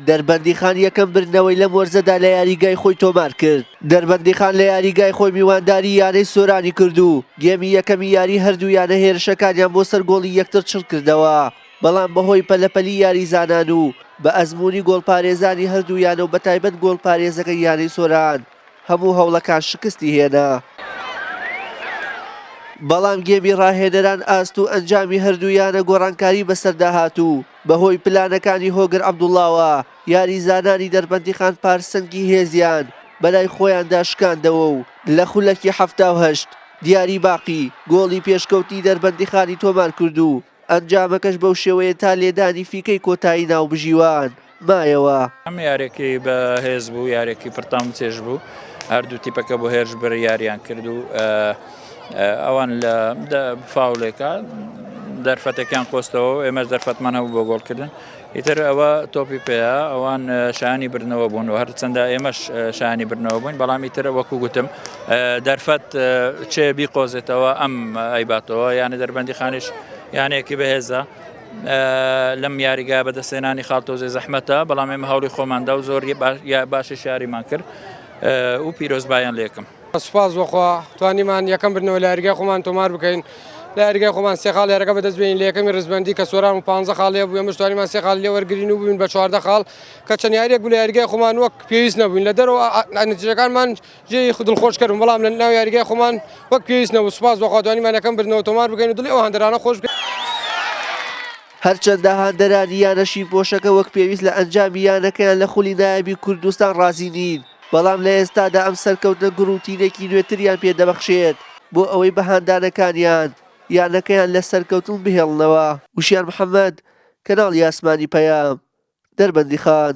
دەربەندیخان یەکەم بردنەوەی لەم وەرزەدا لە یاریگای خۆی تۆمارکرد، دەربەندیخان لە یاریگای خۆی میوانداری یانەی سۆرانی کرد و گێمی یەکەمی یاری هەردوو یانە هێرشەکانیان بۆ سەر گۆڵی یەکتر چڕکردەوە، بەڵام بەهۆی پەلەپەلی یاریزانان و بە ئەزموونی گۆڵپارێزانی هەردوو یانە و بەتایبەت گۆڵپارێزەکەی یانەی سۆران، هەموو هەوڵەکان شکستی هێنا، بەڵام گێمی راهێنەران ئاست و ئەنجامی هەردوو یانە گۆڕانکاری بەسەردا هات و بەهۆی پلانەکانی هۆگر عەبدوڵاوە یاریزانانی دەربەندیخان پارسەنگی هێزیان بەلای خۆیاندا شکاندەوە و لە خولەکی حەفتا و هەشت دیاری باقی گۆڵی پێشکەوتنی دەربەندیخانی تۆمارکرد و ئەنجامەکەش بەو شێوەیە تا لێدانی فیکەی کۆتایی ناوبژیوان مایەوە. ئەم یاریەکی بە هێز بوو یاریەکی پرتام چێژ بوو هەردوو تیپەکە بۆ هێرش بەر یاریان کرد و ئەوان لە فاولێکە دەرفەتەکان قۆستەوە ئێمەش دەرفەتمان هەبوو بۆ گۆڵکردن ئیتر ئەوە تۆپی پێیە، ئەوان شایانی بردنەوە بوون و هەرچەندە ئێمەش شایانی بردنەوە بووین، بەڵام ئیتر وەکو گوتم دەرفەت چێ بیقۆزێتەوە ئەم ئەیباتەوە، یانە دەربەندیخانیش یانەیەکی بەهێزە. لەم یاریگا بەدەستێنانی خاڵ تۆزێ زەحمەتە، بەڵام ئێمە هەوڵی خۆماندا و زۆر باشی شاریمان کرد و پیرۆزبایان لێکم. سوپاس بۆ خوا توانیمان یەکەم بردنەوە لە یاریگای خۆمان تۆمار بکەین لە یاریگای خۆمان سێ خاڵ یارەکە بەدەست بێنین لە یەکەمی ڕیزبەندی کە سۆران و پانزە خاڵ لێ بوو ئێمەش توانیمان سێ خاڵ لێ وەرگرین و بووین بە چواردە خاڵ کە چەند یاریەک بوو لە یاریگای خۆمان وەک پێویست نەبووین لە دەرەوە نەتیجەکانمان جێی دڵخۆش کردم بەڵام لە ناو یاریگای خۆمان وەک پێویست نەبوو سوپاس بۆ خوا توانیمان یەکەم بردنەوە تۆمار بکەین و دڵی ئەو هاندەرانە خۆش بکەین. هەرچەندە هاندەرانی یانە شینپۆشەکە وەک پێویست لە ئەنجامی یانەکەیان لە خولی نایابی کوردستان ڕازی نین، بەڵام لە ئێستادا ئەم سەرکەوتنە گوڕ و تینێکی نوێتریان پێ دەبەخشێت بۆ ئەوەی بە هاندانەکانیان یانەکەیان لە سەرکەوتن بهێڵنەوە. وشیار محەمەد، کەناڵی ئاسمانی پەیام، دەربەندیخان.